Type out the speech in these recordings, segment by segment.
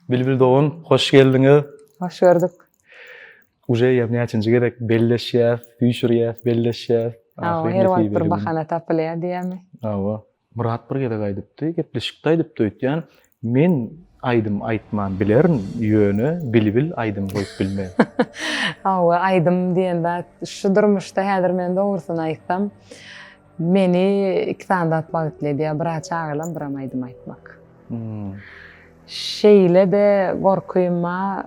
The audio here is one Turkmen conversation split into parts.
Bilbil dogan, hoş geldiňiz. Hoş gördük. Uje ýa näçinji gezek belleşýäs, süýşürýäs, belleşýäs. Hawa, her wagt bir bahana tapylýar diýýärmi? Hawa. Myrat bir gezek aýdypdy, gepleşikde aýdypdy öýtýän, men aýdym aýtman bilerin, ýöne Bilbil aýdym goýup bilmez. Hawa, aýdym diýen zat şu durmuşda häzir men dogrusyny aýtsam, Meni iki sany zat bagtly edýär, bir aç agalam, biram aýdym aýtmak. Şeýle-de gorkym bar,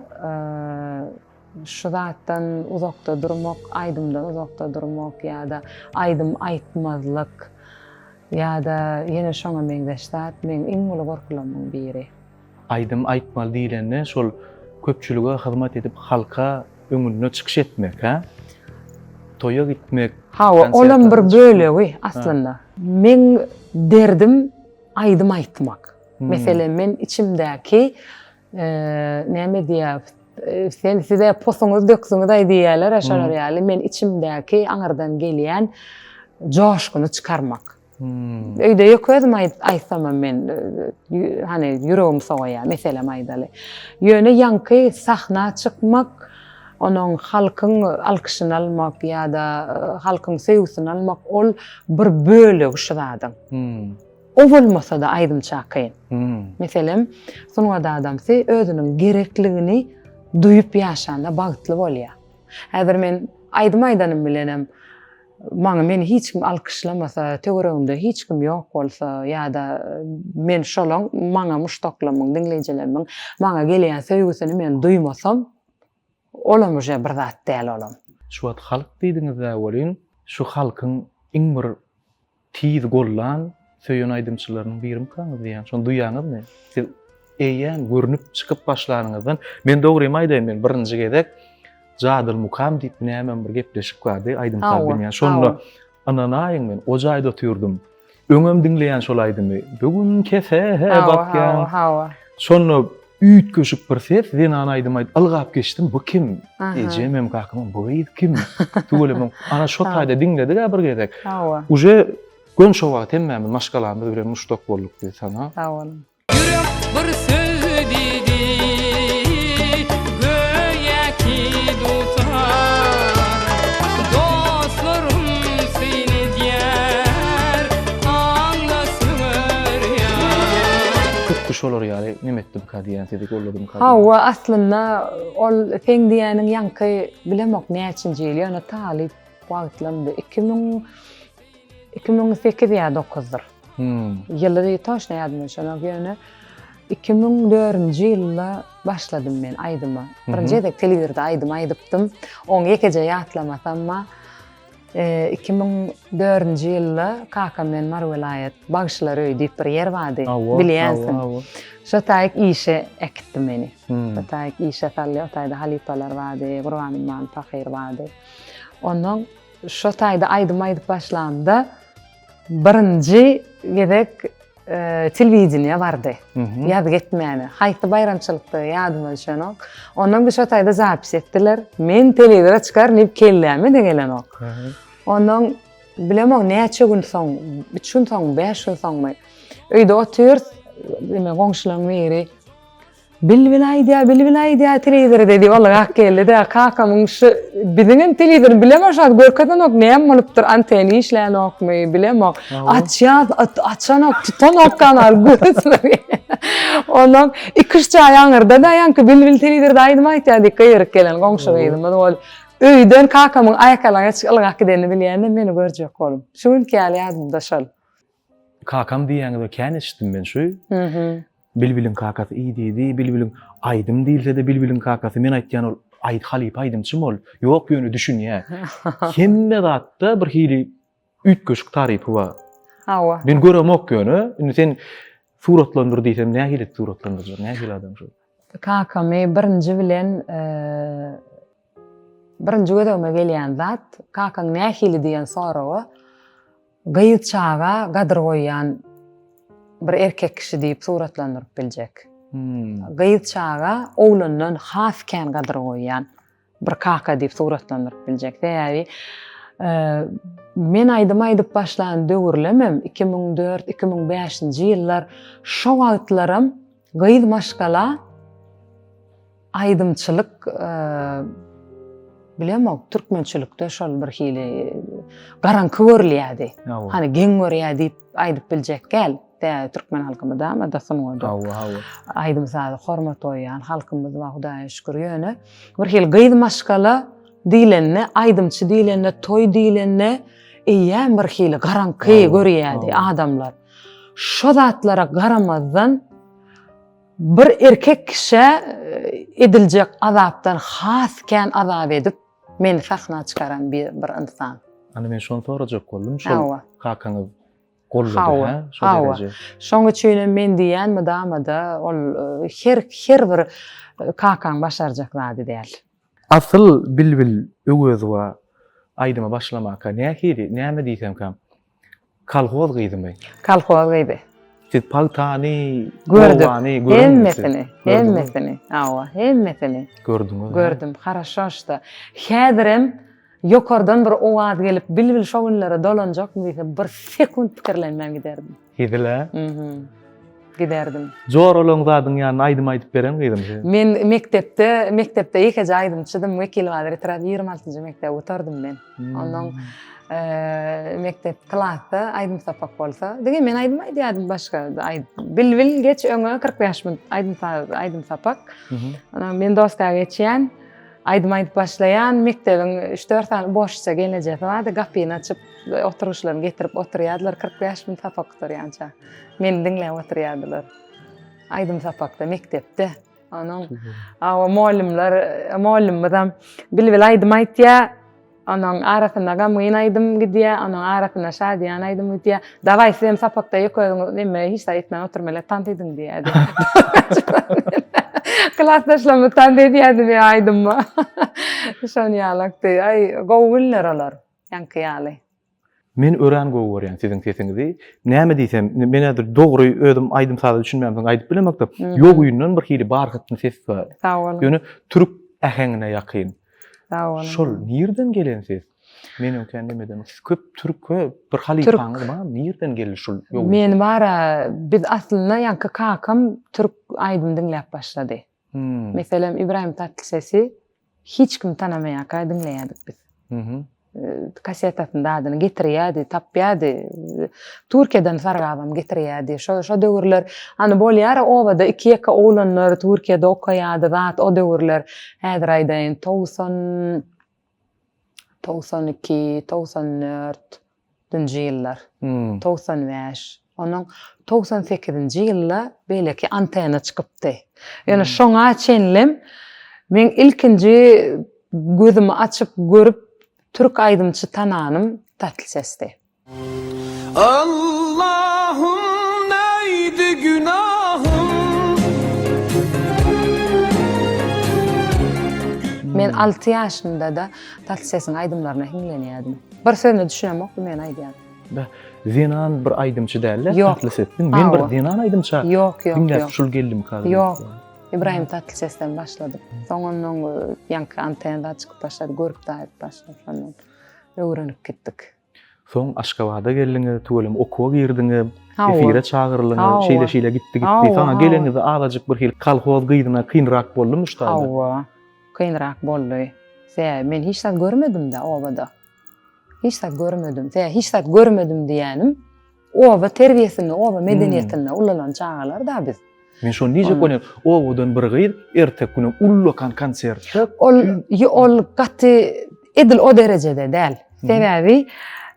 şu zatdan uzakda durmak, aýdymdan uzakda durmak ýa-da aýdym aýtmazlyk ýa-da ýene şoňa meňzeş zat meň iň uly gorkularymyň biri. Aýdym aýtmaly diýlende şol köpçülige hyzmat edip halka öňünde çykyş etmek hä? Toýa gitmek. Hawa olam bir bölegi aslynda. Meň derdim aýdym aýtmak. Meselem men içimdäki näme diýä sen size posuňyz döksüňizaý diýýäler şolar ýaly men içimdäki aňyrdan gelýän joşguny çykarmak. Hmm. Öýde ýok özüm aýtsam men hani ýüregim sowaýa meselem aýdaly. Ýöne ýaňky sahna çykmak, onuň halkyň alkyşyny almak ýa-da e, halkyň söýgüsini almak ol bir bölegi şu zadyň. Hmm. O bolmasa-da aýdym çakyň. Hmm. Meselem, sungat adamsy özüniň gerekligini duýup ýaşanda bagtly bolýar. Häzir men aýdym aýdanym bilenem Maňa meni hiç kim alkyşlamasa, töweregimde hiç kim ýok bolsa ýa-da men şolaň maňa muşdaklarymyň, diňleýjilerimiň maňa gelýän söýgüsini men duýmasam, olam uje bir zat däl olam. Şu wagt halk diýdiňiz-ä welin, şu halkyň iň bir Tiz gollan söýen aýdymçylarynyň birimkaňyz diýýän şony duýýaňyzmy? Siz eýýäm görnüp çykyp başlanyňyzdan men dogrymy aýdaýyn men birinji gezek Jadyl Mukam diýip nämem bir gepleşik bardy aýdym saz bilmeýän şonda ynanaýyň men o jaýda oturdym öňem diňleýän şol aýdymy bugün kese bakýan şonda Üýtgeşik bir ses, zenana aýdym aýdyp ylgap geçdim, bu kim? Ejemem, kakamam bu gyz kim? Tüweleme, ana şo taýda diňledik-ä bir gezek. Hawa. Uje gönşo wagt hemmämiz maşgalamyz bilen muştak bolduk diýdi sana. Sag boluň. Ýürek bir söz diýdi, göýä ki dutar. Dostlarym syn edýär, aňla söwer ýar. Hutdy şolar ýaly Neme etdi bu kadiyyan sizi golladı mı kadiyyan? Hawa aslynda ol sen diýäniň ýaňky bilemok näçinji ýyl ýöne talyp wagtlamdy. 2000 2008 ýa 9-dyr. Hmm. Ýyly toşna ýadyma düşenok ýöne 2004-nji ýylda başladym men aýdyma. Birinji gezek telewizorda aýdym aýdypdym. Oň ýekeje ýatlamasam bar. Iki müň dördünji ýylda kakam bilen Mary welaýat Bagşylar öýi diýip bir ýer bardy. Bilýänsiň. Şo taýyk işe äkitdi meni. Şo taýyk işe saldy. O taýda halypalar bardy, Gurbanymamy pahyr bardy. Ondan şo taýda aýdym aýdyp başlamda Birinji gezek telewideniýe bardy. Ýaz getmäne. Haýsy baýramçylykda ýadyma düşenok. Ondan bir şo taýda zapis etdiler. Men telewizora çykaryn diýip kelläme de gelenok. Ondan bilemok näçe gün soň, üç gün soňmy, bäş gün soňmy. Öýde otyrys, goňşularyň biri. Bilbil aýdýa bilbil aýdýa telewizor dedi ol gak geldi-de kakamyň şu biziňem telewizor bilemok şat görkezenok näme bolupdyr anteni işlänokmy bilemok açýas açanok tutanok kanal görüzmegi ondan iki üç jaý aňyrda daýanky bilbil telewizorda aýdym aýtýa diýip gygyryk gelen goňşy gyzymyz ol öýden kakamyň aýakalaňaç ylgap gidenini bilýän-de meni görjek bolup şu günki ýaly ýadymda şol. Kakam diýýäňiz-ä kän eşitdim men şu. Bilbiliň kakasy iý diýdi, bilbiliň aýdym diýilse-de bilbiliň kakasy. Men aýtýan ol aýd halypa aýdymçym ol. Ýok ýöne düşünýä. Hemme zatda bir hili üýtgeşik tarypy bar. Hawa. Men göremok ýöne. Indi sen suratlandyr diýsem nähili suratlandyrjak? Nähili adam şu? Kakamy birinji bilen Birinji gözegime gelýän zat, kakaň nähili diýen soraga, gyz çaga gadyr goýýan bir erkek kişi diýip suratlandyryp biljek. Gyz çaga oglandan has kän gadyr goýýan bir kaka diýip suratlandyryp biljek. Sebäbi men aýdym aýdyp başlan döwürlemem iki müň dört, iki müň bäşinji ýyllar şo wagtlaram Gyz maşgala aýdymçylyk bilemok, türkmençilikde şol bir hili garanky görülýärdi. Hani geň görýär diýip aýdyp biljek gel. Däýe türkmen halkymy da, ama da sungaty. Hawa, hawa. Aýdym sazy hormat goýýan halkymyz wa Hudaýa şükür ýöne bir hili gyz maşgala diýlende, aýdymçy diýlende, toý diýlende eýýäm bir hili garanky görýärdi adamlar. Şo zatlara garamazdan, bir erkek kişä ediljek azapdan has kän azap edip, meni sahna çykaran bir ynsan. Ana men şony sorajak boldum, şol kakaňyz goldady, hä? Şo dereje. Şoň üçin hem men diýýän mydama-da ol her her bir kakaň başarjak zady däl. Asyl Bilbil Öwezowa aýdyma başlamaka nähili, näme diýsemkäm, Kolhoz gyzymy? Kolhoz gyzy. Siz pagtany, Gördük. obany görüňiz. Hemmesini, hemmesini. Hawa, hemmesini. Gördüňiz. Gördüm, haraşo şda. Häzirem ýokardan bir owaz gelip, bilbil şo günlere dolanjakmy diýse, bir sekunt pikirlenmän giderdim. Hezil-ä? Mhm. giderdim. Joralaň zadyň ýanyna aýdym aýdyp bereň gyzym sen. Men mekdepde, mekdepde ýekeje aýdymçydym. Wekil Gadyr etrap ýigrimi altynjy mekdep otardym men. Ondan eee, mekdep klasda aýdym sapak bolsa, diňe men aýdym aýdýardym başga aý- Bilbil geç öňe kyrk bäş minut aýdym sa- aýdym sapak. Mhm. Ondan men doska geçýän, aýdym aýdyp başlaýan, mekdebiň üç-dört sany boşça gelnejesi bardy, gapyny açyp, oturgyçlaryny getirip oturýardylar, kyrk bäş minut sapak gutarýança. Meni diňläp oturýardylar. Aýdym sapakda, mekdepde. Onuň awa mugallymlar, mugallymymyzam Bilbil aýdym aýtýa. Onuň arasynda gamgyn aýdym gidýä, onuň arasynda şadyýan aýdym gidýä. Dawaý sizem sapakda ýok özüňiz neme hiç zat etmän oturmela tans ediň diýýärdi. Klasdaşlarymyz tans edýärdi meň aýdymyma. Şony ýalakdy. Aý, gowy günler olar. Ýaňky ýaly. Men örän gowy görýän siziň sesiňizi. Näme diýsem, men häzir dogry özüm aýdym saza düşünmän soň aýdyp bilemokda, ýogyndan bir hili barhatny ses bar. Sag boluň. Ýöne türk äheňine ýakyn. Sag boluň. Şol nirden gelen ses? Men öňkä nemeden köp türke bir halypaňyz bar, nirden geldi şul ýogyn? Men bara biz aslynda ýaňky kakam türk aýdym diňläp başlady. Hmm. Meselem İbrahim Tatlıses'i hiç kim tanamaýarka diňleýärdik biz. Mhm. Kasetasynda dadyny getirýärdi, tapýardy. Türkiýeden sargabam getirýärdi. Şo şo döwürler hani bolýar obada iki ýeke oglanlar Türkiýede okaýardy zat o döwürler. Häzir aýdaýyn 90 Togsan iki, togsan dört, nji ýyllar, togsan bäş, onuň togsan sekizinji ýylda beýleki antena çykypdy. Ýöne şoňa çenlem meň ilkinji gözümi açyp görüp türk aýdymçy tananym Tatl sesdi. Allahym neydi günahym Men alty ýaşymda-da Tatly sesiň aýdymlaryna hiňlenýärdim. Bir sözüne düşünemokdym men aýdýan. Da zenan bir aýdymçy dälde Tatly ses. Men bir zenan aýdymça diňläp şul geldimika. Ýok. Ybraýym Tatly sesden başladym. Soň ondan ýaňky antenada çykyp başlady, görüp-daýyp başlady. Şondan öwrenip gitdik. Soň Aşgabada geldiňiz, tüweleme okuwa girdiňiz, efire çagyrylyňyz, şeýle-şeýle gitdi-gitdi. Soň geleniňizde azajyk birhili kolhoz gyzyna kynrak boldumy şu taýdan? Hawa, kynrak boldy. Sebäbi men hiç zat görmedim-dä obada. Hiç zat görmedim. Sebäbi hiç zat görmedim diýýänim, Oba terbiýesinde, oba medeniýetinde ulalan çagalar da biz. Men şony diýjek bolýan, owadan bir gyz erteki günem ullakan konsert. Ol ol gaty edil o derejede däl. Sebäbi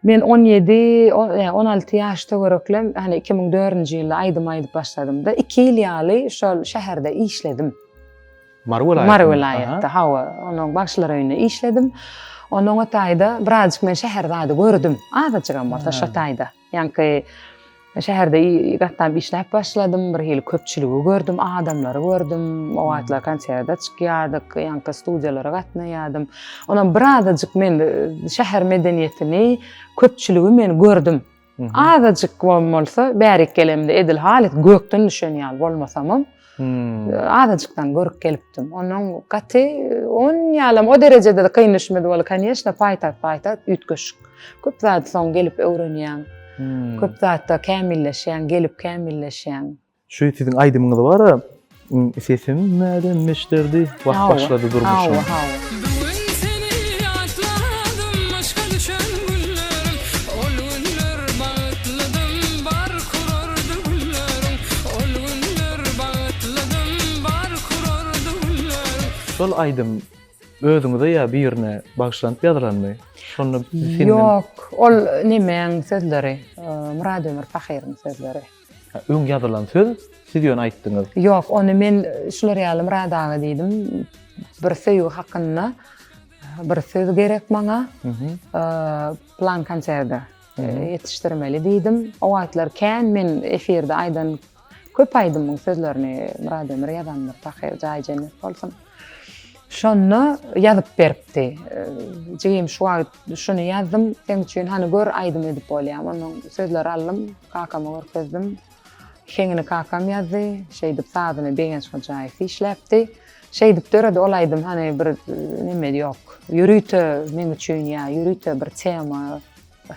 men on ýedi, on alty ýaş töwereklem, hani iki müň dördünji ýylda aýdym aýdyp başladymda, iki ýyl ýaly şol şäherde işledim. Mary welaýatynda. Mary welaýatda, hawa. Onuň bagşylar öýünde işledim. Onuň o taýda birazjyk men şäher zady gördüm. Azajygam bolsa şo taýda. Ýaňky şäherde gatnap işläp başladym. Bir hili köpçüligi gördüm, adamlary gördüm. O wagtlar konserde çykýardyk, ýaňky studiýalara gatnaýardym. Onam birazajyk men şäher medeniýetini, köpçüligi men gördüm. Azajyk bol bolsa bärik gelemde edil halyt gökden düşen ýaly bolmasamam. Hmm. Azajykdan görüp gelipdim. Onuň gaty on ýalam o derejede de kyn düşmedi bol. Kanyýeşna paýtagt paýtagt üýtgeşik. Köp zat soň gelip öwrenýän. Hmm. Köp zatda kämilleşýän, gelip kämilleşýän. Şu siziň aýdymyňyz bara sesim mäden meşderdi wah başlady durmuşym. Şol aýdym özüňize ýa birine bagyşlanyp ýazylanmy? Şonda Ýok, ol nemäň sözleri? Murad Ömür pahyryň sözleri. Öň ýazylan söz, siz ýöne aýtdyňyz. Ýok, ony men şular ýaly Murad aga diýdim. Bir söýgi hakynda bir söz gerek maňa. Plan konserde ýetişdirmeli diýdim. O wagtlar kän men efirde aýdan köp aýdymyň sözlerini Murad Ömür ýazandyr. Tahyr jaýy jennet bolsun. Şonda ýazyp beripdi. Jigim şu wagt şuny ýazdym seň üçin hany gör aýdym edip bolýamy. Ondan sözleri aldym, kakama görkezdim. Heňini kakam ýazdy. Şeýdip sazyny Begenç Hojaýew işläpdi. Şeýdip döredi ol aýdym hany bir neme ýok. Ýörite meň üçin ýa ýörite bir tema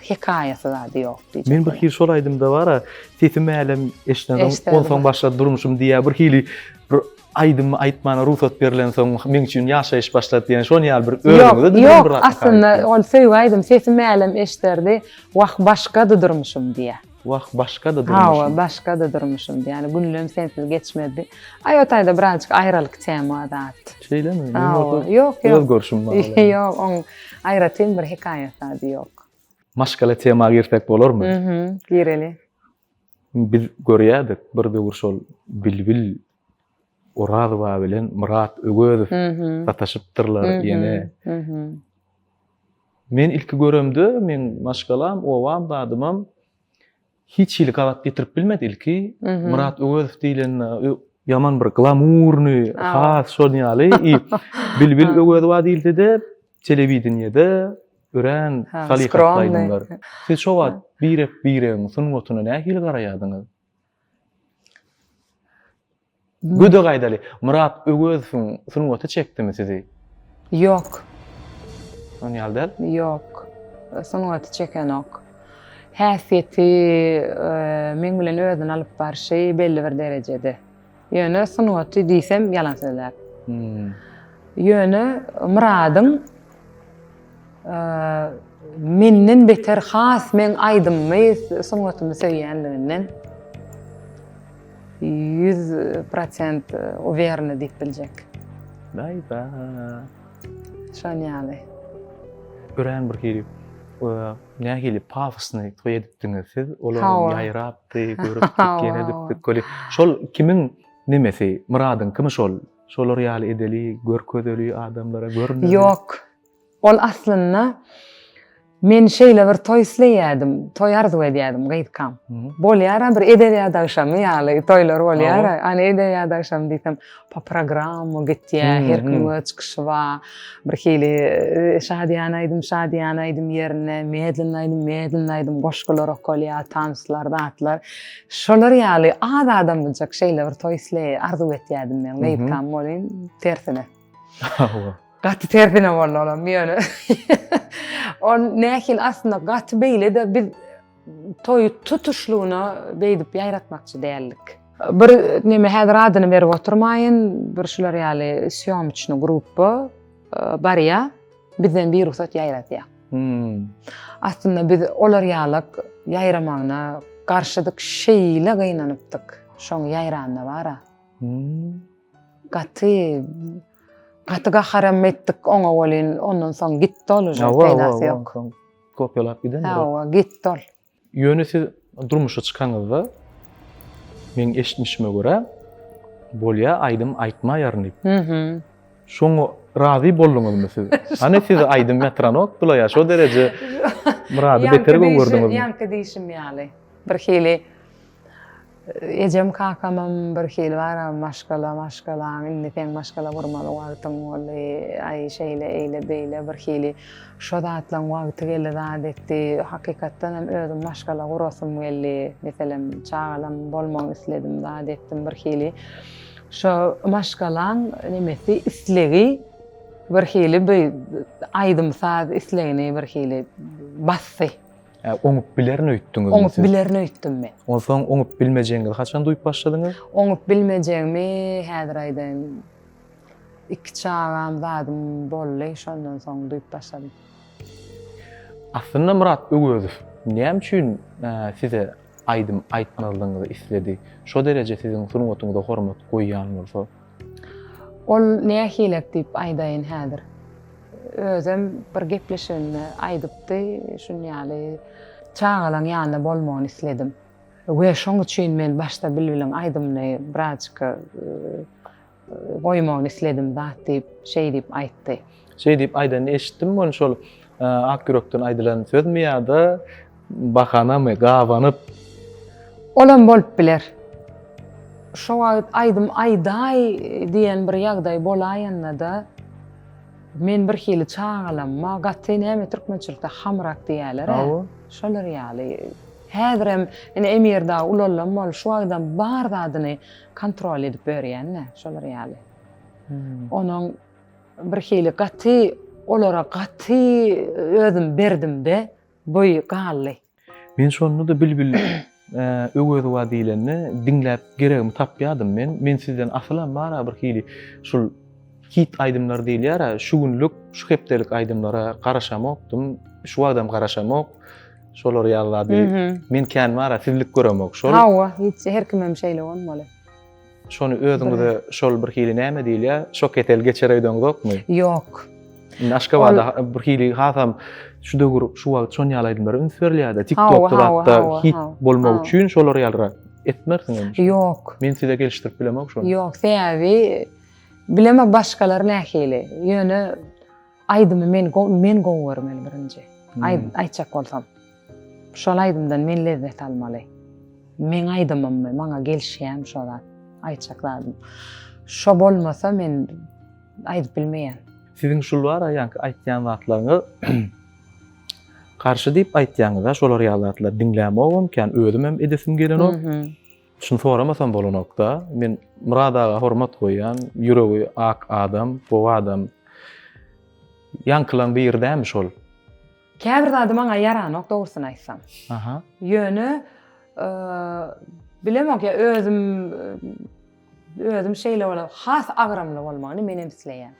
hekaýasy zady ýok diýjek. Men bir hil şol aýdymda bara sesim älem eşdädim, onsoň başlady durmuşym diýýär. Bir hili bir Aýdymy aýtmana rugsat berilensoň meň üçin ýaşaýyş başlady diýen şon ýaly bir özüňize diýen bir aýtma. Ýok, aslynda ol söýgi aýdym sesi mälem eşderdi. Wah başgady durmuşym diýä. Wah başgady durmuşym. Hawa başgady durmuşym diýä. Ýani günlem sensiz geçmezdi. Aý o taýda birazjyk aýralyk tema zat. Şeýlemi? Hawa. Ýok ýok. Öz görşüm bar. Ýok oň aýratyn bir hekaýasy ýok. Maşgala tema girsek bolarmy? Gireli. Biz görýärdik, bir döwür şol Bilbil Orazowa bilen Myrat Öwezow sataşypdyrlar ýene. Men ilki göremde, meň maşgalam, obam, dadymam hiç hili gabat getirip bilmedi ilki. Myrat Öwezow diýlende ýaman bir glamurny, has şonuň ýaly. Bilbil Öwezowa diýilse-de, telewideniýede Örän halypatly aýdymlar. Siz şo wagt birek-biregiň sungatyna nähili garaýardyňyz? Gödek aýdaly, Myrat Öwezowyň sungaty çekdimi sizi? Ýok. Şonuň ýaly däl? Ýok. Sungaty çekenok. Häsiýeti, meň bilen özüni alyp barşy belli bir derejede. Ýöne sungaty diýsem ýalan sözläp. Ýöne Myradyň menden beter has meň aýdymymy, sungatymy söýýänliginden 100% uwerna diýip biljek. Daýza. Şon ýaly. Örän bir hili Nähili pafosny toý edipdiňiz siz, olaram ýaýrapdy, görüpdik, ýene gitdik, köli. Şol kimiň nemesi, Myradyň kimi şol? Şolar ýaly edeli, görkezeli adamlara görünmeli. Ýok. Ol aslynda men şeýle bir toý isleýädim, toý arzuw edýädim gyzkam. Bolýar-a bir edebiýat agşamy ýaly toýlar bolýar-a, ana edebiýat agşamy diýsem, po programma gitýä, her kim öz çykyşy bar. Bir hili e, şadyýan aýdym, şadyýan aýdym ýerine medlenli aýdym, medlenli aýdym goşgular okalýar, tanslar, zatlar. Şolar ýaly az adam biljek şeýle bir toý isleýi arzuw etýärdim men. Meýkam bolýan tersine. Gaty tersine boldy olam ýöne. On nähili aslynda gaty beýle-de biz Toýy tutuşlygyna beýdip ýaýratmakçy däldik. Bir neme häzir adyny berip oturmaýyn, bir şular ýaly sýomçny gruppa barýa, bizden bir rugsat ýaýradýa. Hmm. Aslynda biz olar ýalyk ýaýramagyna garşydyk, şeýle gynanypdyk. Şoň ýaýranda bara. Hmm. Gaty gaty gaharam etdik oňa welin ondan soň gitdi ol uje peýdasy ýok. Kopýalap giden. Hawa, gitdi ol. Ýöne siz durmuşa çykanyňyzda meň eşitmişime görä bolýa aýdym aýtmaýaryn diýip. Mhm. Şoňa razy bolduňyzmy siz? Hany siz aýdym ýatyranok bulaýa şo dereje Myrady beter gögerdiňizmi? Ýaňky diýşim ýaly. Bir hili Ejem kakamam bir hili bara maşgala maşgalaň indi seň maşgala gurmaly wagtyň boldy aý şeýle eýle beýle bir hili şo zatlaň wagty geldi zat etdi hakykatdan hem özüm maşgala gurasym geldi meselem çagalam bolmagyny isledim zat etdim bir hili şo maşgalaň nemesi islegi bir hili bir aýdym saz islegini bir hili basdy. Hä, oňup bilerin öýtdüňizmi siz? Oňup bilerin öýtdüm men. Onsoň oňup bilmejegiňizi haçan duýup başladyňyz? Oňup bilmejegimi häzir aýdaýyn. Iki çagam, zadym boldy, şondan soň duýup başladym. Aslynda Myrat Öwezow näme üçin size aýdym aýtmazlygyňyzy isledi? Şo dereje siziň sungatyňyza hormat goýýan bolsa? Ol nähilek diýip aýdaýyn häzir. Özem bir gepleşiginde aýdypdy, şunýaly çagalaň ýanynda bolmagyny isledim. We şoň üçin men başda Bilbiliň aýdymyny birazjyk goýmagyny isledim zat diýip, şeý diýip aýtdy. Şeý diýip aýdanyny eşitdim, ony şol ak ýürekden aýdylan sözmi ýa-da bahanamy, gabanyp? Olam bolup biler. Şo wagt aýdym aýdaý diýen bir ýagdaý bolaýanda-da, men birhili çagalanma, gaty näme türkmençilikde hamrak diýýäler-ä, şolar ýaly. Häzirem ine Emir dagy ulalam bolup, şu wagtam bar zadyny kontrol edip ýörýän-dä, şolar ýaly. Onuň Birhili gaty olara gaty özüm berdimde boýy galdy. Men şonda-da Bilbil Öwezowa diýlende diňläp geregimi tapýadym men. Men sizden asylam bar-a birhili şul hit aýdymlar diýilýär-ä şu günlük, şu hepdelik aýdymlara garaşamokdym. Şu wagtam garaşamok. Şolary ýaly zady men kän bar-a sizlik göremok şol. Hawa, hiç her kimem şeýle bolmaly. Şony özüňize şol bir hili näme diýilýär? Şok ketel geçer öýdüňizokmy? Ýok. Indi Aşgabatda bir hili hasam şu döwür şu wagt şon ýaly aýdymlara üns berilýär-de, TikTokda hatda hit bolmak üçin şolar ýalyrak etmersiň indi. Ýok. Men size gelişdirip bilemok şony. Ýok, sebäbi bileme başgalar nähili. Ýöne aýdymy men men gowy görmeli birinji. Aýt aýtjak bolsam. Şol aýdymdan men lezzet almaly. Meň aýdymymmy, maňa gelişýämi şo zat, aýtjak zadym. Şo bolmasa men aýdyp bilmeýän. Siziň şul bara ýaňky aýtýan zatlaryňyz garşy diýip aýtýaňyz-a şolar ýaly zatlary diňlämogam kän, özüm hem edesim gelenok. Şuny soramasam bolanok-da. Men Myrat aga hormat goýýan, ýüregi ak adam, gowy adam. Ýaňkylaň biri dälmi şol? Käbir zady maňa ýaranok dogrusyny aýtsam. Aha. Ýöne bilemok ýa özüm özüm şeýle bolar. Has agramly bolmagyny men hem isleýän.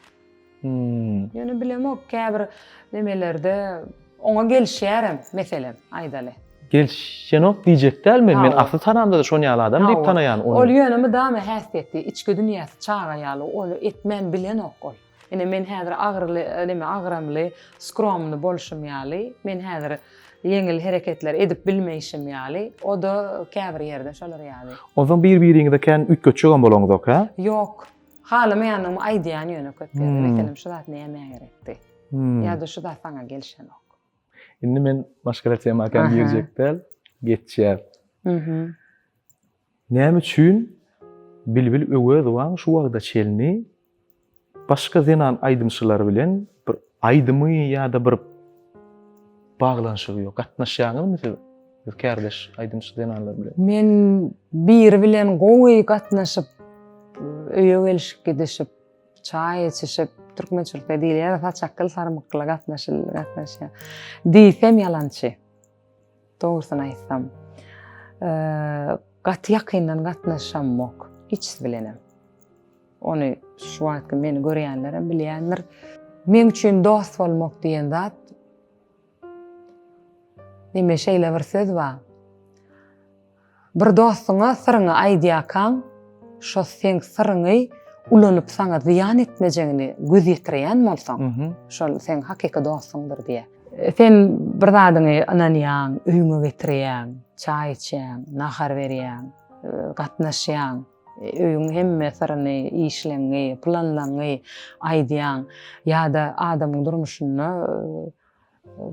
Hmm. Ýöne bilemok käbir nemelerde oňa gelişýärem meselem aýdaly. Gelişenok diýjek däl men. Men asly tanamda da şon ýaly adam diýip tanaýan ony. Ol ýöne mydama häsiýeti, içki dünýäsi çaga ýaly, ony etmän bilenok ol. Ine, men häzir agyryly, näme, agramly, skromny bolşum ýaly, men häzir ýeňil hereketler edip bilmeýşim ýaly, o-da käbir ýerde şolar ýaly. Onsoň bir-biriňize kän üýtgetjegem bolaňyzok, hä? Ýok. Halamaýanymy aýdýan ýöne köp ýerde. Meselem, şu zat nämä gerekdi? Ýa-da şu zat saňa gelişenok. Indi men başga-da tema kän girjek däl, geçýär. Näme üçin Bilbil Öwezowaň şu wagta çenli başga zenan aýdymçylar bilen bir aýdymy ýa-da bir baglanyşygy ýok? Gatnaşýaňyzmy siz kärdeş aýdymçy zenanlar bilen? Men biri bilen gowy gatnaşyp, öýe gelişip gidişip, çaý içişip, türkmen çürte diýilýär, saçakgyl sarmykgyla gatnaşyl, gatnaşýar diýsem ýalançy. Dogrusyny aýtsam, gaty ýakyndan gatnaşamok, hiç siz bilenem. Ony şu wagtky meni görýänlerem bilýändir. Men üçin dost bolmak diýen zat Neme şeýle bir söz bar. Bir dostuňa syryňy aýdýarkaň, şo seň syryňy ulanyp saňa zyýan etmejegini göz ýetireýän bolsaň, şol seň hakyky dostuňdyr diýýär. Sen bir zadyňy ynanýaň, öýüňe getirýäň, çaý içýäň, nahar berýäň, gatnaşýaň, öýüň hemme syryny, işleňňi, planlaňňy aýdýaň ýa-da adamyň durmuşynda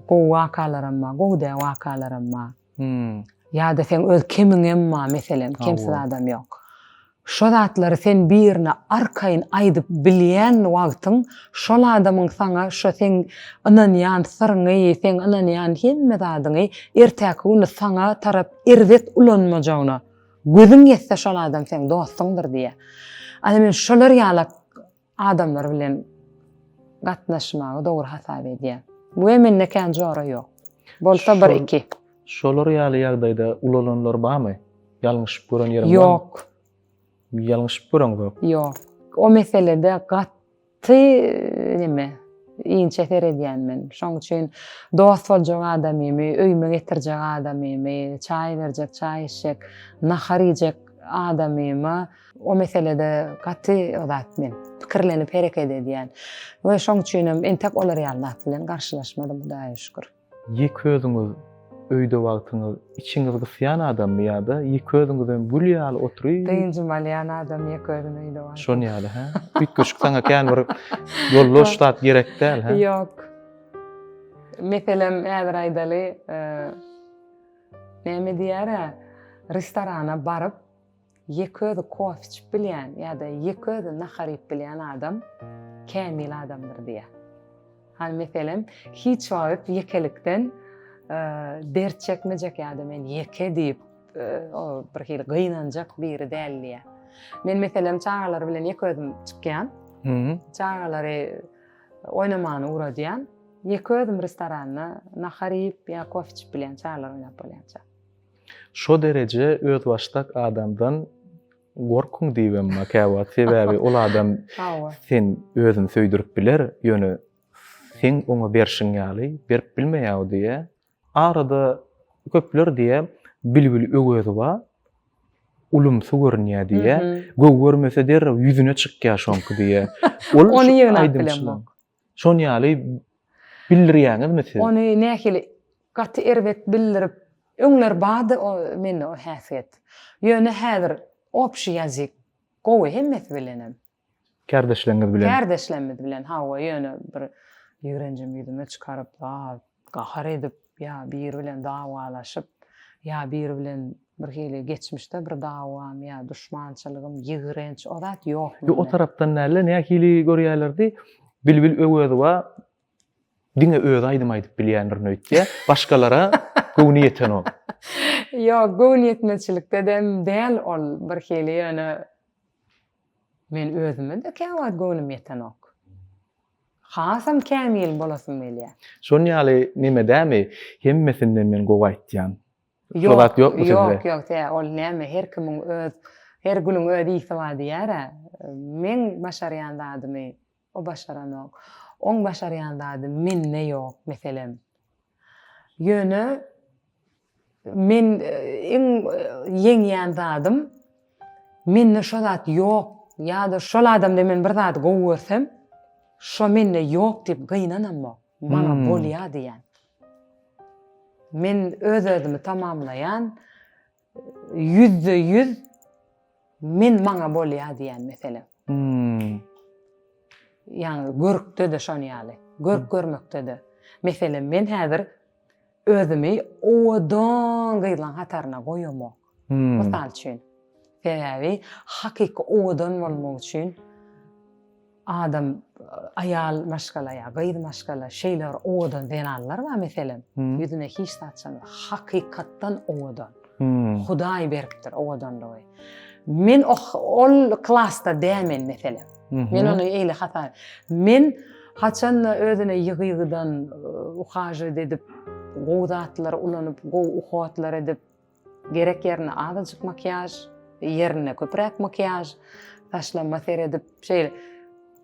gowy wakalaram bar, gowy däl wakalaram bar. Hum. Ýa-da seň öz kemiňem bar meselem, kemsiz adam ýok. Şo zatlary sen birine arkaýyn aýdyp bilýän wagtyň şol adamyň saňa şo seň ynanýan syryňy, seň ynanýan hemme zadyňy erteki güni saňa tarap erbet ulanmajagyna gözüň ýetse şol adam seň dostuňdyr diýýär. Ana men şolar ýalak Adamlar bilen gatnaşmagy dogry hasap edýär. Bu hem mende kän jora ýok. Bolsa bir iki. Şolar ýaly ýagdaýda ulalanlar barmy? Ýalňyşyp gören ýeriň barmy? Ýok. Ýalňyşyp göreňzok. Ýok. O meselede gat ty neme inçe seredýän men. Şoň üçin dost boljak adamymy, öýüme getirjek adamymy, çaý berjek, çaý içjek, nahar iýjek adamyma O meselede gaty o zat men pikirlenip hereket edýän. We şoň üçinem entek olar ýaly zat bilen garşylaşmadym Hudaýa şükür. Ýek özüňiz öýde wagtyňyz içiňiz gysýan adammy ýa-da ýek özüňizem gül ýaly oturyp. Dynjym alýan adam ýek özüni öýde wagtyň. Şon ýaly hä? Üýtgeşik saňa kän bir ýoldaş zat gerek däl hä? Ýok. Meselem häzir aýdaly näme diýýär-ä restorana baryp Ýeke özi kofe içip bilýän ýa-da ýeke özi nahar iýip bilýän adam kämil adamdyr diýýär. Hany meselem, hiç wagt ýekelikden dert çekmejek ýa-da men ýeke diýip, o bir hili gynanjak biri däl diýýär. Men meselem çagalar bilen ýeke özüm çykýan. Çagalary oýnamany ugradýan. Ýeke özüm restoranda nahar iýip ýa kofe içip bilýän çagalar oýnap bolýança. Şo dereje özbaşdak adamdan gorkuň diýibem ma kä wagt sebäbi ol adam sen özüni söýdürip biler ýöne seň oňa berşiň ýaly berip bilmeýäw diýä arada köpler diýä bilbil öwezowa ulumsy görünýä diýä göw görmese derrew ýüzüne çykýa şoňky diýä ol ony ýygnap bilemok Şon ýaly bildirýäňizmi siz? Ony nähili gaty erbet bildirip öňler bardy mende o häsiýet. Ýöne häzir obşi ýazyk gowy hemmesi bilenem. Kärdeşleriňiz bilen? Kärdeşlerimiz bilen hawa ýöne bir ýigrenjim ýüzüme çykaryp zat. gahar edip ýa biri bilen dawalaşyp ýa biri bilen bir hili geçmişde bir dawam ýa duşmançylygym ýigrenç o zat ýok mende. Ýok o tarapdan dälde nähili görýälerdi Bilbil Öwezowa diňe özi aýdym aýdyp bilýändirin öýtýä başgalara göwni ýetenok. Ýok göwni ýetmezçilikdedem däl ol bir hili ýöne men özüme-de käwagt göwnüm ýetenok. Hasam kämil bolasym gelýär. Şon ýaly neme dämi? Hemmesinden men gowy aýtýan. Ýok, Ýok, ýok, ýok, tä ol näme, her kimiň öz, her gülüň öz ýiti bar diýýär-ä. Meň başarýan zadymy o başaranok. Oň başarýan zady mende ýok, meselem. Ýöne. Men iň ýeňýän zadym, mende şo zat ýok ýa-da şol adamda men bir zady gowy görsem, şo mende ýok diýip gynanamok, maňa bolýar diýýän. Men öz-özümi tamamlaýan, ýüzde ýüz men maňa bolýar diýýän meselem. Ýagny görkde-de şon ýaly, görk görmekde-de. Meselem, men häzir Özümi owadan gyzlaň hataryna goýamok. Mysal üçin. Sebäbi hakyky owadan bolmak üçin adam aýal maşgala ýa gyz maşgala şeýle bir owadan zenanlar bar meselem, ýüzüne hiç zat çykanok. Hakykatdan owadan. Hudaý beripdir owadanlygy. Men ol klasda dämen meselem. Men ony eýle hata. Men haçanda özüne ýygy-ýygydan uhajat edip, gowy zatlar ulanyp, gowy uhatlar edip, gerek ýerine azajyk makiýaž, ýerine köpräk makiýaž, saçlama seredip, şeýle.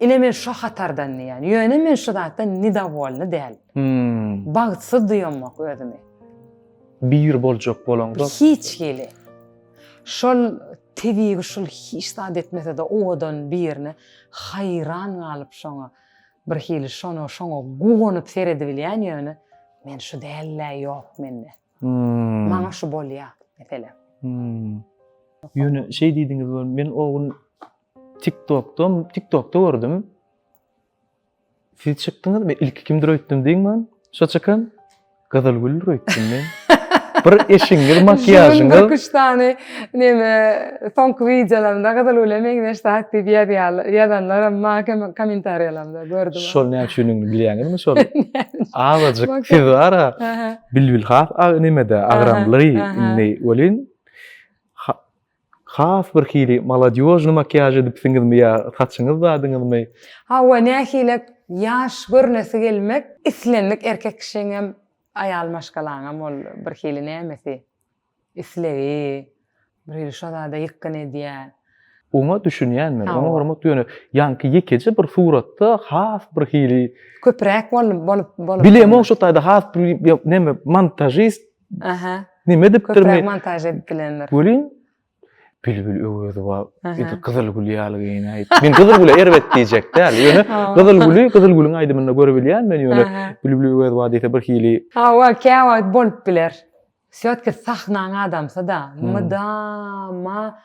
Ine men şu hatardan diýýän. Ýöne men şu zatdan nidowolny däl. Bagtsyz duýamok özümi. Bir boljak bolaňda. Hiç hili. Şol tebigy şul hiç zat etmesede owadan birine haýran galyp şoňa bir hili şona şoňa guwanyp seredibilýän ýöne men şu dälde ýok mende. Hmm. Maňa şu bolýa meselem. Hmm. Ýöne şeý diýdiňiz men o gün TikTokda TikTokda gördüm. Siz çykdyňyz, men ilki kimdir öýtdüm diýiň man. Şo çykan Gyzylgüldir öýtdüm men. Bir eşigiňiz, makiýažyňyz. Üç dany neme soňky wideolarymda Gyzylgüle meňzeş zat diýip ýazýarlar. Ýazanlar hem maňa kommentariýalarymda gördüm. Şol näme üçinini bilýäňizmi şol? Awajyk siz bara. Bilbil has nemede agramly indi welin Has bir hili maladýožnyý makiýaž edipsiňizmi ýa saçyňyz zadyňyzmy? Hawa nähili ýaş görnesi gelmek islendik erkek kişiňem aýal maşgalaňam ol bir hili nämesi islegi bir hili şo zada ýykgyn edýä. Oňa düşünýän men oňa hormat ýöne ýaňky ýekeje bir suratda has bir hili. Köpräk bolup bolup. Bilemok şo taýda has bir neme montažist Aha. Nime edipdir men? montaj edip bilenler. Görýän. Bilbil Öwezowa edi Gyzyl gül ýaly geýinäýip. Men Gyzyl güle erbet diýjek däl. Ýöne Gyzyl güli Gyzyl gülüň aýdymynda görüp bilýän men ýöne Bilbil Öwezowa diýse bir hili. Hawa, käwagt bolup biler. Sýatki sahnaň adamsy-da, mydama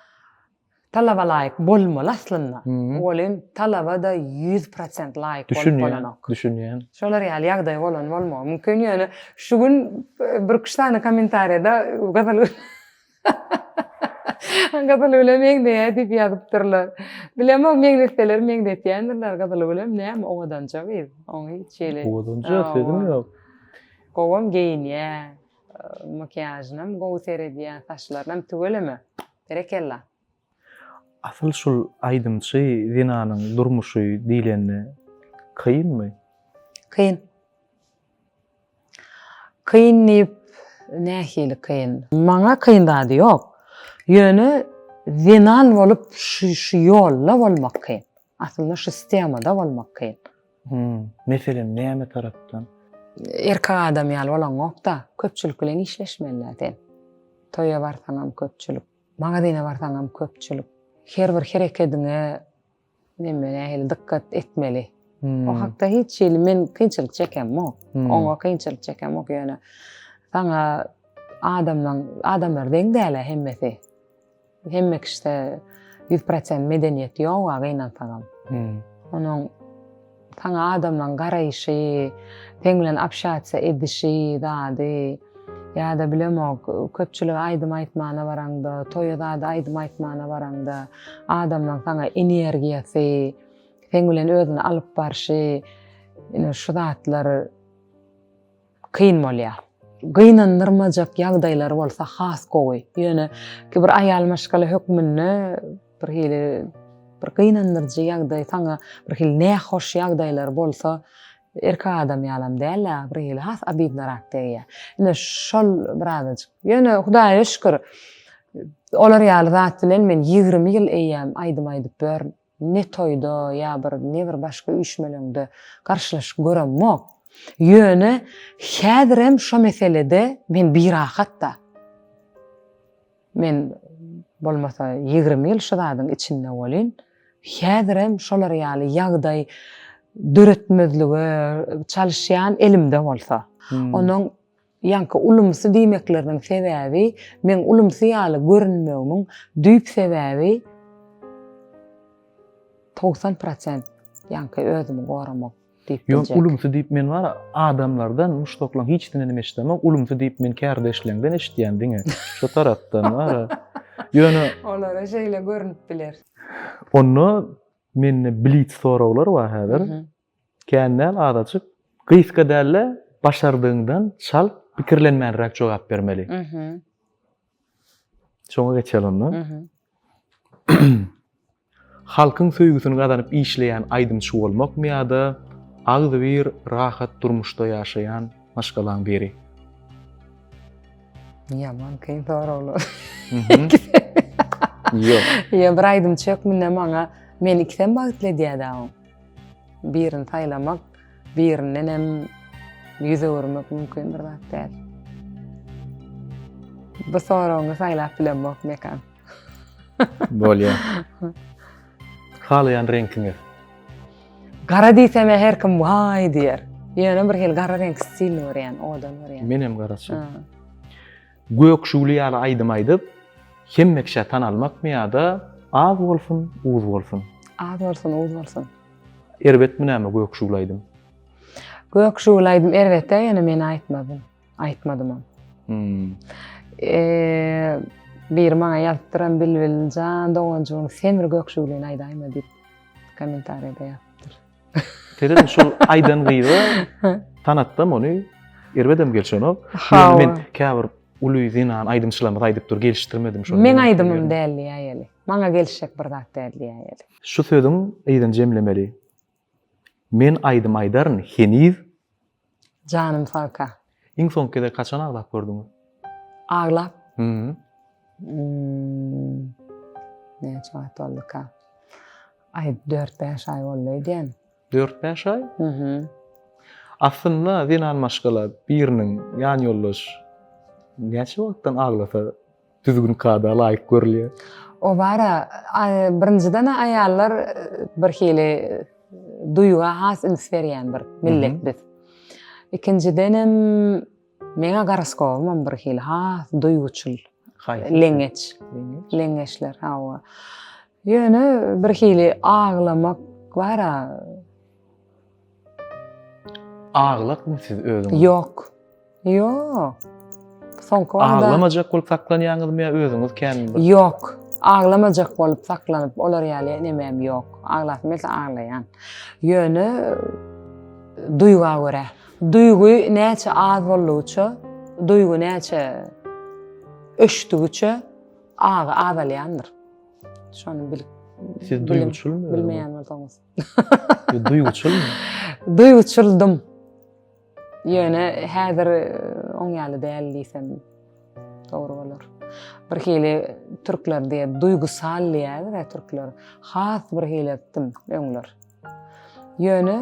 Talaba laýyk bolmaly aslynda. Welin talaba-da ýüz prosent laýyk bolup bolanok. Düşünýän. Şolar ýaly ýagdaý bolan bolmagy mümkin. Ýöne şu gün birküç sany kommentariýada Gazal Gazalgüle meňzeýär diýip ýazypdyrlar. Bilemok, meňzetseler meňzetýändirler. Gazalgülem näme owadanja gyz. Oň hiç hili. Owadanja sözüm ýok. Gowam geýinýär. Makiýažynam gowy seredýär, saçlarynam tüweleme. Berekella. Asyl şul aýdymçy zenanyň durmuşy diýlende kynmy? Kyn. Kyn diýip nähili kyn? Maňa kyn zady ýok. Ýöne zenan bolup şu şu ýolda bolmak kyn. Aslynda şu sistemada bolmak kyn. Hmm, meselem näme tarapdan? Erkek adam ýaly bolaňokda, köpçülik bilen işleşmeliler sen. Toýa barsaňam köpçülik, magazyna barsaňam köpçülik. Her bir herekediňe neme nähili dykgat etmeli. Hmm. O hakda hiç şey men kynçylyk çekem yok. Hmm. Oňa kynçylyk çekem yok yani. Sana adamdan adamlar deň däle hemmesi. Hemme kişide ýüz prosent medeniýet ýok, gynansagam. Onuň saňa adamlaryň garaýşy, seň bilen obşatsiýa edişi, zady, ýa-da bilemok, köpçülige aýdym aýtmana baraňda, toýa zada aýdym aýtmana baraňda, adamlaryň saňa energiýasy, seň bilen özüni alyp barşy, ine, şu zatlar. kyn bolýar. Gynandyrmajak ýagdaýlar bolsa has gowy. Ýöne ki bir aýal maşgala hökmünde bir hili bir gynandyryjy ýagdaý saňa bir hili nähoş ýagdaýlar bolsa erkek adam ýalam dälä bir hili has abidnorak degýä. Ine şol birazajyk. Ýöne hudaýa şükür olar ýaly zat bilen men ýigrimi ýyl eýýäm aýdym aýdyp börn. Ne toýda ýa bir ne bir başga üýşmeleňde garşylaşyp göremok. Ýöne häzirem şo meselede men birahat-da. Men bolmasa ýigrimi ýyl şu zadyň içinde bolýn. Häzirem şolar ýaly ýagdaý döretmezlige çalyşýan elimde bolsa. Onuň Ýaňky ulumsy diýmekleriniň sebäbi, meň ulumsy ýaly görünmegimiň düýp sebäbi togsan prosent ýaňky özümi goramak diýip biljek. Ýok, ulumsy diýip men bar adamlardan, muşdaklaň hiçsinden hem eşidemok. Ulumsy diýip men kärdeşleňden eşidýän diňe. Şo tarapdan bar. Ýöne Olara şeýle görünip biler. Onda mende blitz soraglar bar häzir. Kän däl, azajyk. Gysga däl-de, başardygyňdan çalt, pikirlenmänräk jogap bermeli. Şoňa geçeli onda. Halkyň söýgüsini gazanyp işleýän aýdymçy bolmakmy ýa-da agzybir rahat durmuşda ýaşaýan maşgalaň biri? Ýaman kyn soraglar. Ýok. Ýa bir aýdymçy hökmünde maňa meni ikisem bagtly edýär-dä. Birini saýlamak, birinden hem ýüz öwürmek mümkin bir zat däl. Bu soragyňy saýlap bilemok Mekan. Bolýar. Halaýan reňkiňiz? Gara diýsem her kim waý diýer. Ýöne bir hil gara reňk stilini görýän, odan görýän. Men hem garaçy. Gök şugly ýaly aýdym aýdyp, hemme kişä tanalmakmy ýa-da Az bolsun, uz bolsun? Az bolsun, uz bolsun. Erbetmi näme Gök şugly aýdym? Gök şugly aýdym erbet-ä, ýöne men aýtmadym. Aýtmadymam. Hmm. Eee, biri maňa ýazypdyram Bilbiljan doganjygyň Semir Gök şuglyny aýdaýma diýip kommentariýada ýazypdyr. Terezin şul aýdan gyza tanatdam ony erbedem gelşenok. Hawa. Men käbir uly zenan aýdymçylarymyz aýdyp dur, gelişdirmedim şony. Men aýdymym däl diýäýeli. Maňa gelişjek bir zat däl diýäýeli. Şu sözüň yzyn jemlemeli. Men aýdym aýdaryn heniz Janym sagka. Iň soňky gezek haçan aglap gördüňiz? Aglap? Hmmm. Hmmm. Näçe wagt bolduka? Aý, dört-bäş aý boldy öýdýän. Dört-bäş aý? Hmmm. Aslynda zenan maşgala biriniň ýanýoldaş näçe wagtdan aglasa düzgün kada laýyk görülýär. O bara birinjiden aýallar bir hili duýga has üns berýän bir millet biz. Ikinjiden hem meňe garaskowum hem bir hili has duýguçyl. Leňeç. Leňeçler hawa. Ýöne bir hili aglamak bara Aglakmy siz özüňiz? Ýok. Ýok. Soňky wagtda Aglamajak bolup saklanýaňyzmy ýa özüňiz kän bir? Ýok. Aglamajak bolup saklanyp olar ýaly nemem ýok. Aglasym gelse aglaýan. Ýöne duýga görä. Duýgy näçe az boldugyça, duýgy näçe öçdügiçe agy azalýandyr. Şony bilip Siz duýguçylmy? Bilmeýän bolsaňyz. Duýguçylmy? Duýguçyldym. Ýöne häzir e, oň ýaly däl diýsem dogry bolar. Bir hili türkler diýe duýgusal diýýär we türkler has bir hili etdim öňler. Ýöne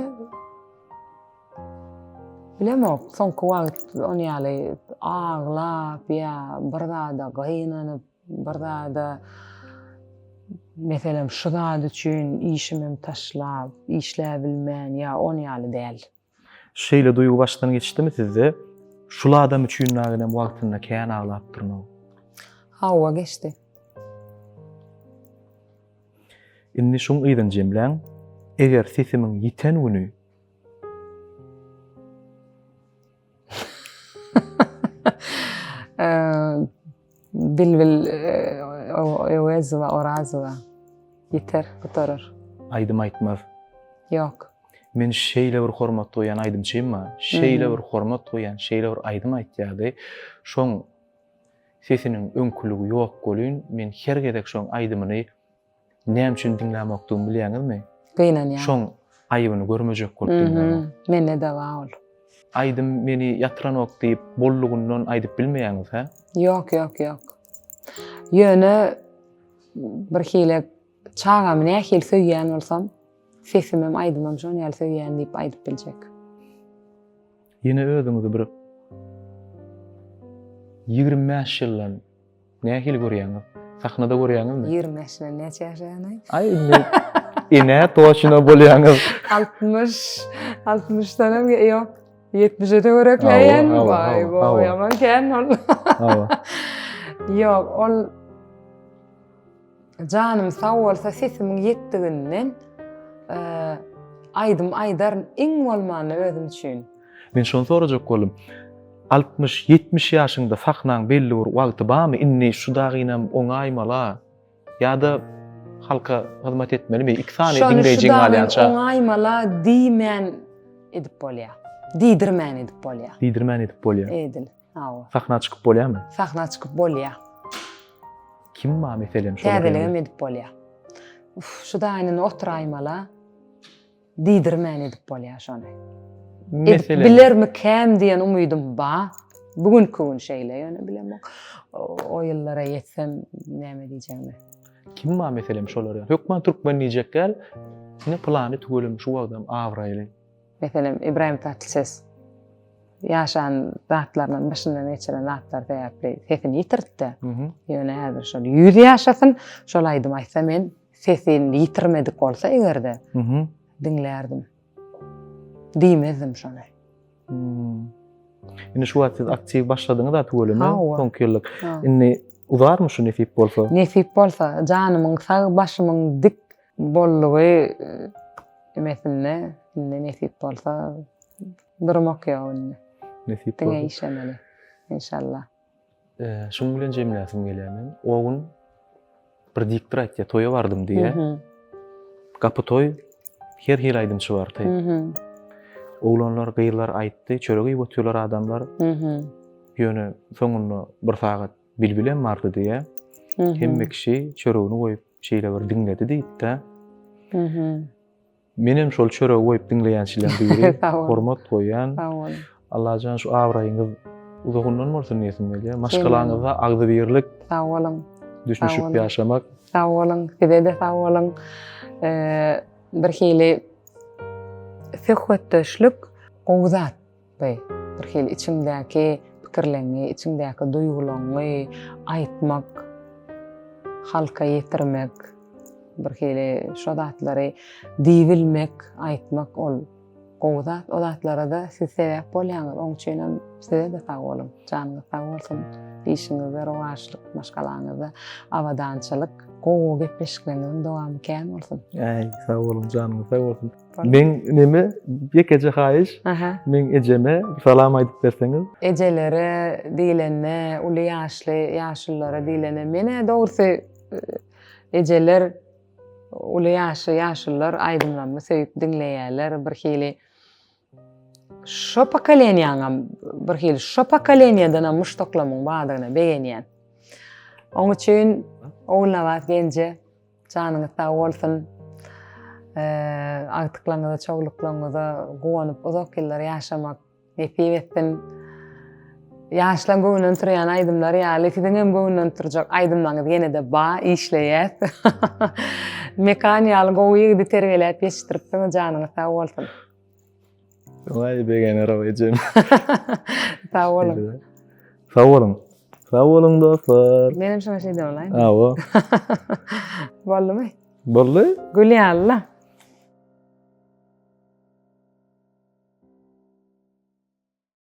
bilemok, soňky wagt oň ýaly aglap ýa bir zada gynanyp Bir zada meselem şu zat üçin işimem taşlap, işläbilmän ýa on ýaly däl. Şeýle duýgy başdan geçdimi sizde? Şul adam üçin näginem wagtynda kän aglapdyryn-ow. Hawa, geçdi. Indi şuň yzyn jemläň. Eger sesimiň ýiten güni. Bilbil Öwezowa, Orazowa. Ýeter, gutarar. Aýdym aýtmaz. Ýok. Men şeýle bir hormat goýan aýdymçym bar. Şeýle bir hormat goýan, şeýle bir aýdym aýtýardy. Şoň sesiniň öňküligi ýok welin, men her gezek şoň aýdymyny Näme üçin diňlämokdygymy bilýäňizmi? Gynanýan. Şoň aýybyny görmejek bolup diňlämok. Mende de bar ol. Aýdym meni ýatyranok diýip bollugyndan aýdyp bilmeýäňiz hä? Ýok, ýok, ýok. Ýöne bir hili çagamy nähili söýýän bolsam, sesimem aýdymam şon ýaly söýýän diýip aýdyp biljek. Ýene özüňizi bir 25 ýyldan Nähili görýäňiz? Sahnada görýäňizmi? Ýigrimi bäşden näçe ýaşaýany? Aý indi enä toçuna bolýaňyz. Altmyş, altmyşdan hem ýok. Ýetmişe-de görekläýen. Hawa, hawa, Waý, hawa, hawa. waý, aman kän ol. Hawa. Ýok, ol Janym sag bolsa sesimiň ýetdiginden aýdym aýdaryn iň bolmanda özüm üçin. Men şony sorajak boldum. Altmyş, ýetmiş ýaşyňda sahnaň belli bir wagty barmy? Indi şu dagynam oňaýmala ýa-da halka hyzmat etmelimi? Iki sany diňleýjiň galýança. Şony oňaýmala diýmän edip bolýar. Diýdirmän edip bolýar. Diýdirmän edip bolýar. Edil. Hawa. Sahna çykyp bolýarmy? Sahna çykyp bolýar. Kim ma meselem şolar? Täzeligem edip bolýar. Uf, şu daýyny oturaýmala. Diýdirmän edip bolýar şony. Meselem. Bilermi käm diýen umydym ba. Bu gün köwün şeýle ýöne bilemok. O ýyllara ýetsem näme diýjegimi. Kim ma meselem şolar? Hökman türkmen diýjek gel. Ne plany tüwelem şu wagtam abraýly. Meselem, Ibrahim Tatlises ýaşan zatlaryndan, başyndan geçiren zatlar sebäpli sesini ýitirtdi. Ýöne häzir şol ýüz ýaşasyn, şol aýdym aýtsa men sesini ýitirmedik bolsa eger-de diňlärdim. Diýmezdim şony. Indi şu wagt siz aktiw başladyňyz da tüweleme soňky ýyllyk. Indi uzarmy şu nesip bolsa? Nesip bolsa, janymyň sag, başymyň dik, Boldugy emesinde indi nesip bolsa durmak ýok indi. Nesip bolsa. Diňe işemeli. Inşallah. Şuň bilen jemläsim gelýär men. O gün bir diktor aýtdy, toýa bardym diýe. Gapy toý her hil aýdymçy bardy. Oglanlar, gyzlar aýtdy, çörek iýip oturýarlar adamlar. Ýöne soňunda bir sagat bilbilem bardy diýe. Hemme kişi çöregini goýup şeýle bir diňledi diýipdi. Menem şol çörek goýup diňleýänçileň biri. Hormat goýýan. Sag bol. Allajan şu abraýyňyz uzagyndan bolsun diýesim gelýär. Maşgalaňyzda agzybirlik. Sag boluň. Düşünişip ýaşamak. Sag boluň. Size-de sag boluň. Bir hili söhbetdeşlik gowy zat. Be, bir hili içiňdäki pikirleňi, içiňdäki duýgulaňy aýtmak, halka ýetirmek, bir hili şo zatlary diýibilmek, aýtmak ol gowy zat. O zatlara-da siz sebäp bolýaňyz. Oň üçinem size-de sag boluň. Janyňyz sag bolsun. Işiňizde rowaçlyk, maşgalaňyzda abadançylyk, gowy gepleşikleriňiziň dowamy kän bolsun. Äý, sag boluň, janyňyz sag bolsun. Men neme ýekeje haýyş. Men ejeme salam aýdyp berseňiz. Ejelere diýlende, uly ýaşly ýaşulylara diýlende menä dogrusy ejeler uly ýaşy ýaşulylar aýdymlarymy söýüp diňleýärler. Bir hili şo pokoleniýaňam bir hili şo pokoleniýadan hem muşdaklamyň bardygyna begenýän. Oň üçin Ogulnabat Genje Janyňyz sag bolsun. Agtyklaryňyza, çowluklaryňyza guwanyp uzak ýyllar ýaşamak nesip etsin. Ýaşlaň göwünden turýan aýdymlar ýaly siziň hem göwünden turjak aýdymlaryňyz ýene-de ba, işleýäs. Mekan ýaly gowy ýigidi terbiýeläp ýetişdiripsiňiz, janyňyz sag bolsun. Wai begener o ejem. Sag bolun. Sag bolun. Sag bolun dostlar. Menem şuna şey de olayım. Ha o. Boldu mu? Boldu. Gül ya Allah.